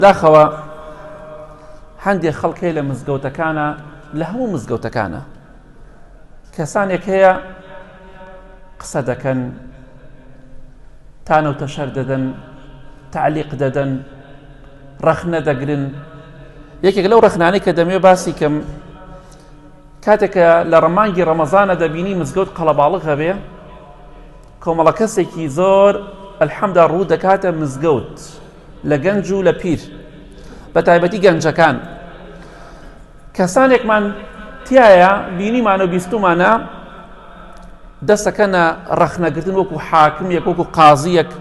داخەوە هەندێک خەڵک هەیە لە مزگەوتەکانە لە هەموو مزگەوتەکانە کەسانێک هەیە قسە دەکەن تانە و تەشەر دەدەن تعلیق دەدەن ڕەخنە دەگرن یەکێک لەو ڕخنانەی کە دەمێ باسی کەم کاتێکە لە ڕەمانگی ڕەمەزانە دەبینی مزگەوت قەڵەباڵق هەبێ کۆمەڵە کەسێکی زۆر ئەلحەمدا ڕوو دەکاتە مزگەوت لە گەنج و لە پیر بە تایبەتی گەنجەکان کەسانێکمان تایە بینیمان و بیستمانە دەستەکەنە ڕەخنەگرتن وەکو حاکم یەک وەکو قازیەک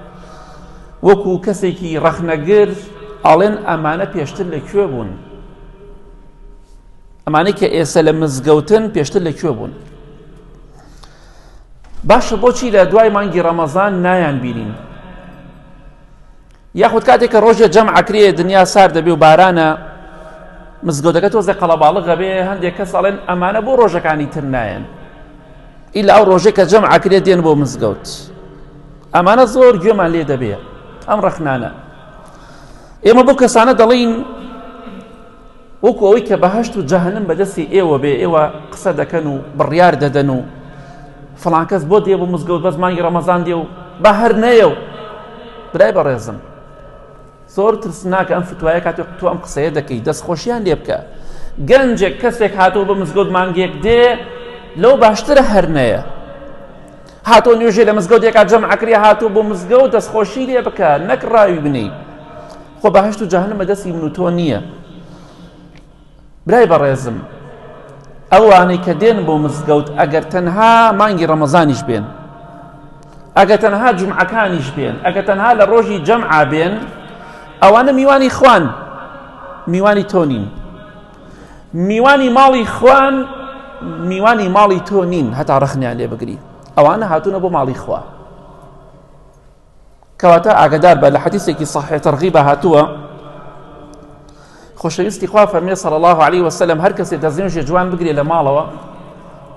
وەکو کەسێکی ڕەخنەگر ئاڵێن ئەمانە پێشتر لە کوێ بوون ئەمانەی کە ئێستا لە مزگەوتن پێشتر لە کوێ بوون باشە بۆچی لە دوای مانگی ڕەمەزان نایان بینین یاخود کاتێک کە ڕۆژێ جەم عکرێ دنیا سار دەبێ و بارانە مزگەوتەکە تۆزە قەڵەباڵغ غەبێ هەندێک کە ساڵێن ئەمانە بۆ ڕۆژەکانی تر نایەن ئیلا ئەو ڕۆژێک کە جەم عکرێ دێن بۆ مزگەوت ئەمانە زۆر گوێمان لێ دەبێ ئەم ڕەخنانە ئێمە بۆ کەسانە دەڵین وەکو ئەوەی کە بەهشت و جەهنم بەدەستی ئێوە بێ ئێوە قسە دەکەن و بڕیار دەدەن و فڵانکەس بۆ دێ بۆ مزگەوت بەس مانگی ڕەمەزان دێ و بە هەر نەیە و برای بەڕێزم زۆر ترسناکە ئەم فتوایە کاتێک تو ئەم قسەیە دەکەی دەستخۆشیان لێ بکە گەنجێک کەسێک هاتەوە بە مزگەوت مانگێک دێ لەو باشترە هەر نەیە هاتۆ نوێژێ لە مزگەوتێکا جەم عکری هاتوو بۆ مزگەوت دەستخۆشی لێ بکە نەک ڕاوی بنی خۆ بەهەشت و جەهەنم بە دەستی من و تۆ نییە برای بەڕێزم ئەوانەی کە دێن بۆ مزگەوت ئەگەر تەنها مانگی ڕەمەزانیش بێن ئەگە تەنها جمعەکانیش بێن ئەگە تەنها لە ڕۆژی جەمعا بێن ئەوانە میوانی خوان میوانی تۆ نین میوانی ماڵی خوان میوانی ماڵی تۆ نین هەتا ڕخنیان لێ بگری ئەوانە هاتوونە بۆ ماڵی خوا کەواتە ئاگدار بە لە حەدیثێکی صحیح ترغیبە هاتووە خۆشەویستی خوا فەرمێ صلی الله عليه وسلم هەر کەسێ دەستێژێ جوان بگرێ لە ماڵەوە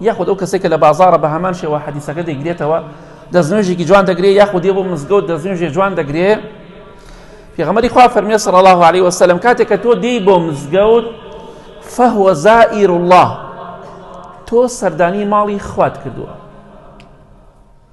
یاخود ئەو کەسێکە لە بازارە بە هەمان شێوە حەدیسەکە دەگرێتەوە دەستنوێژێکی جوان دەگرێ یاخود دێ بۆ مزگەوت دەستنوێژێ جوان دەگرێ پێغەمەری خوا فەرمێ صلی الله عليه وسلم کاتێک کە تۆ دێی بۆ مزگەوت فهو زائر الله تۆ سەردانی ماڵی خوات کردووە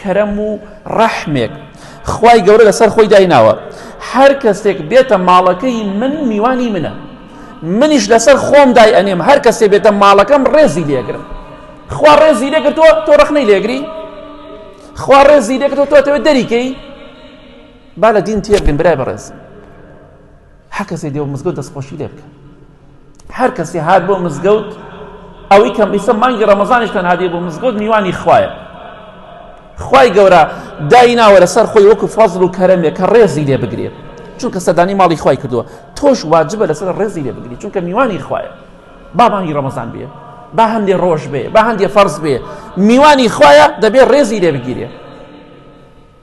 کەرەم و ڕەحمێک خوای گەورە لەسەر خۆی دایناوە هەر کەسێک بێتە ماڵەکەی من میوانی منە منیش لەسەر خۆم دای ئەنێم هەر کەسێ بێتە ماڵەکەم ڕێزی لێگرم خوا ڕێزی لێگرتووە تۆ ڕخنەی لێگری خوا ڕێزی لێگرتوە تۆ تەوێت دەریکەی با لە دین تێبگەن برای بەڕێز هەر کەسێ دێ و مزگەوت دەستخۆشی لێ بکە. هەر کەسێ هات بۆ مزگەوت ئەوەی کەم ئیسە مانگی ڕەمەزانیش تەنها دێ بۆ مزگەوت میوانی خوایە. خوای گەورە دایناوە لەسەر خۆی وەکو فەزل و کەرەمێ کە ڕێزی لێ بگرێت. چونکە سەدانی ماڵی خوای کردووە تۆش واجبە لەسەر ڕێزی لێ بگری چونکە میوانی خوایە با مانگی ڕەمەزان بێ با هەندێ ڕۆژ بێ با هەندێ فەرز بێ میوانی خوایە دەبێ ڕێزی لێ بگیرێ